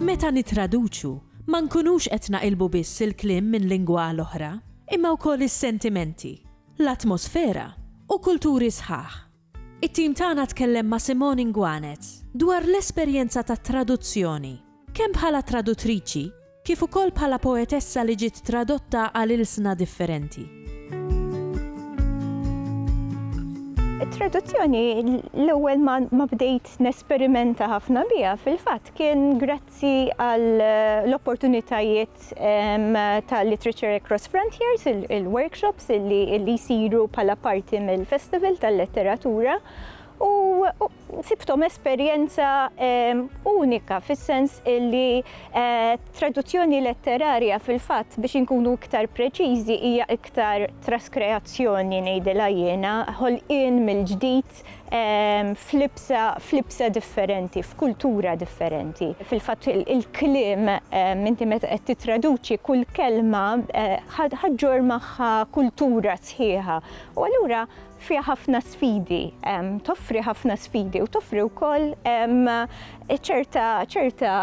Meta nittraduċu, ma nkunux qed naqilbu biss il-kliem minn lingwa għal oħra, imma wkoll is-sentimenti, l-atmosfera, u kulturi sħaħ. It-tim tagħna tkellem ma' Simone Inguanez dwar l-esperjenza tat-traduzzjoni, kemm bħala traduttriċi kif ukoll bħala poetessa li ġiet tradotta għal ilsna differenti. It-traduzzjoni l-ewwel ma bdejt nesperimenta ħafna biha fil-fatt kien Grazzi għall-opportunitajiet ta' Literature Across Frontiers, il-workshops li jsiru bħala parti mill-Festival tal-Letteratura u sibthom esperjenza unika fis-sens li traduzzjoni letterarja fil-fatt biex inkunu iktar preċiżi hija iktar traskreazzjoni ngħidilha jiena, ħolqien mill-ġdid fatt f'libsa f'libsa differenti, f'kultura differenti. Fil-fatt il-kliem inti meta qed tittraduċi kull kelma ħaġġor magħha kultura sħiħa u allura fiha ħafna sfidi, toffri ħafna sfidi u toffri wkoll ċerta ċerta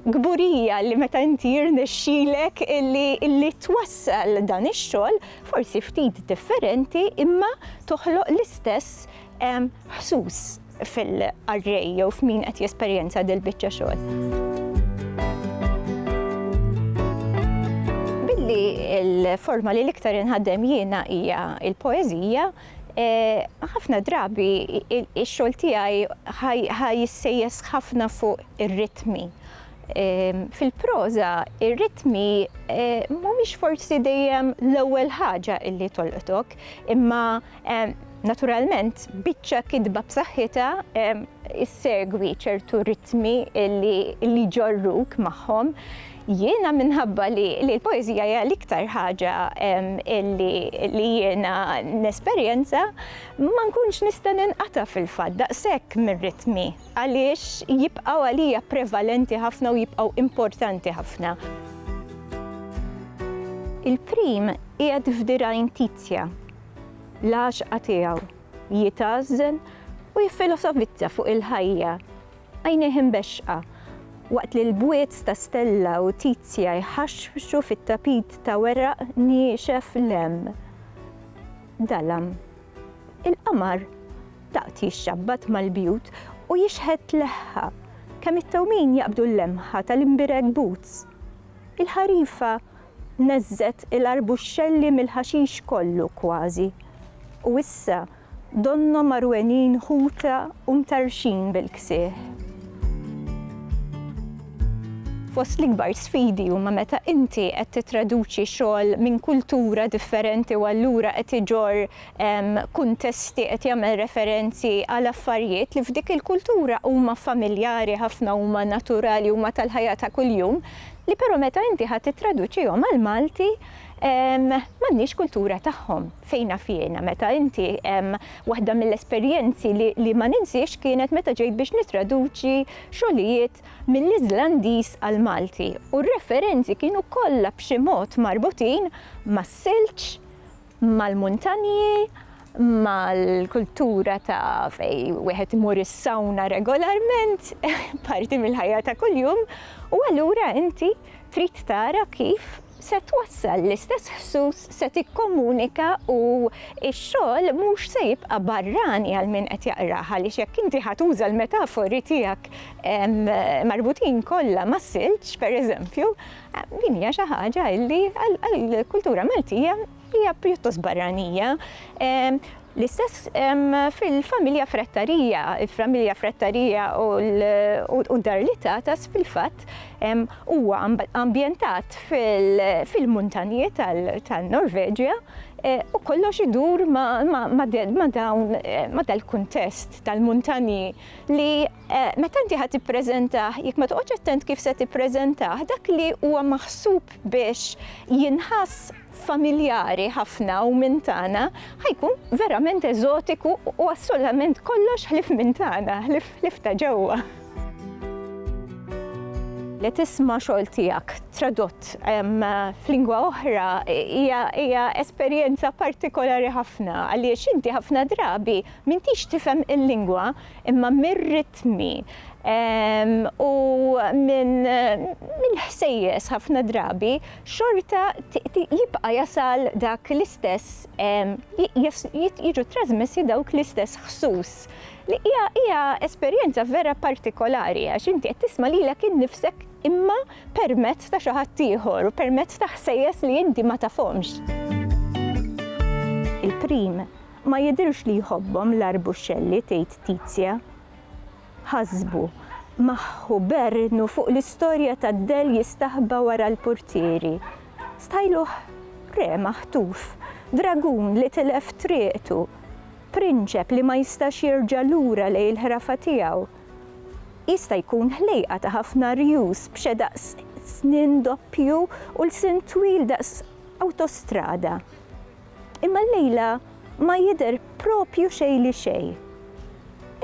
Kburija li meta inti jirnexxilek illi twassal dan ix-xogħol forsi ftit differenti imma toħloq l-istess ħsus fil-qarrej jew f'min qed jesperjenza dil-biċċa xogħol. li l-forma li l-iktar inħaddem jiena hija il-poezija, Ħafna drabi ix-xogħol tiegħi ħa jissejjes ħafna fuq ir-ritmi. Fil-proża, ir-ritmi mhumiex forsi dejjem l-ewwel ħaġa li tolqtok, imma naturalment biċċa kitba b'saħħitha ssegwi ċertu ritmi li jġorruk magħhom. Jiena minħabba li l-poeżija hija l-iktar ħaġa li jiena nesperjenza, ma nkunx nista' ninqata' fil-fatt daqshekk mir-ritmi għaliex jibqgħu għalija prevalenti ħafna u jibqgħu importanti ħafna. Il-prim qiegħed f'dirgħajn Tizja. L-għaxqa tiegħu, jitgħażżen u jiffilosofizza fuq il-ħajja. Għajnejh imbexxqa, waqt li l-bwiet ta' Stella u Tizia jħaxxbxu fit-tapit ta' weraq niexef l-hemm. Dalam. Il-qamar daqt jixxabbat mal-bjut u jixħet leħħa, kemm it-tewmin jaqbdu l-lemħa tal-imbirek boots. Il-ħarifa neżżgħet il-arbuxxelli mill-ħaxix kollu kważi, u issa, Donnhom għarwenin ħuta u mtarrxin bil-ksieħ. Fost l-ikbar sfidi huma meta inti qed tittraduċi xogħol minn kultura differenti u allura qed iġorr kuntesti, qed jagħmel referenzi għal affarijiet li f'dik il-kultura huma familjari ħafna, huma naturali, huma tal-ħajja ta' kuljum, li però meta inti ħa tittraduċihom għall-Malti m'għandniex kultura tagħhom. Fejn naf jiena, meta inti, waħda mill-esperjenzi li ma ninsiex kienet meta ġejt biex nittraduċi xogħlijiet mill-Iżlandiż għall-Malti u r-referenzi kienu kollha b'xi mod marbutin mas-silġ, mal-muntanji, mal-kultura ta' fejn wieħed imur is-sawna regolarment, parti mill-ħajja ta' kuljum, u allura inti trid tara kif se twassal l-istess ħsus, se tikkomunika u x-xogħol mhux se jibqa' barrani għal min qed jaqrah għaliex jekk inti ħa tuża l-metafori tiegħek marbutin kollha mas-silġ, pereżempju, din hija xi ħaġa illi għall-kultura Maltija Hija pjuttost barranija. L-istess fil-familja Frattarija. Il-familja Frattarija u d-dar li tatas fil-fatt huwa ambjentat fil-muntanji tal-Norveġja eh, u kollox idur ma' dal-kuntest tal-muntanji li eh, meta inti ħad tippreżentah, jekk ma toqgħodx attent kif se tippreżentah, dak li huwa maħsub biex jinħass familjari ħafna u minn tagħna, ħa jkun verament eżotiku u assolutament kollox ħlief minn tagħna, ħlief ta' ġewwa. Li tisma' xogħol tiegħek tradott f'lingwa oħra hija esperjenza partikolari ħafna għaliex inti ħafna drabi m'intix tifhem il-lingwa imma mir-ritmi u mill-ħsejjes ħafna drabi xorta jibqa' jasal dak l-istess jiġu trasmessi dawk l-istess ħsus. Li hija hija esperjenza vera partikolari għax inti qed tisma' lilek innifsek imma permezz ta' xi ħadd ieħor u permezz ta' ħsejjes li inti ma tafhomx. Il-prim ma jidhirx li jħobbhom l-arbuscelli tgħid Tizia. Ħasbu, maħħu bernnu fuq l-istorja tad-dell jistaħba wara l-purtieri. Stajluh re maħtuf, dragun li tilef triqtu, prinċep li ma jistax jerġa' lura lejn il-ħrafa tiegħu. Jista' jkun ħlejqa ta' ħafna rjus b'xedaq snien doppju u lsien twil daqs awtostrada. Imma llejla ma jidher proprju xejn li xejn.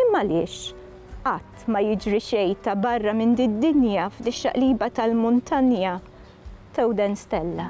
Imma għaliex? Qatt ma jiġri xejn ta' barra minn did-dinja f'dix-xaqliba tal-muntanja Tewden Stella.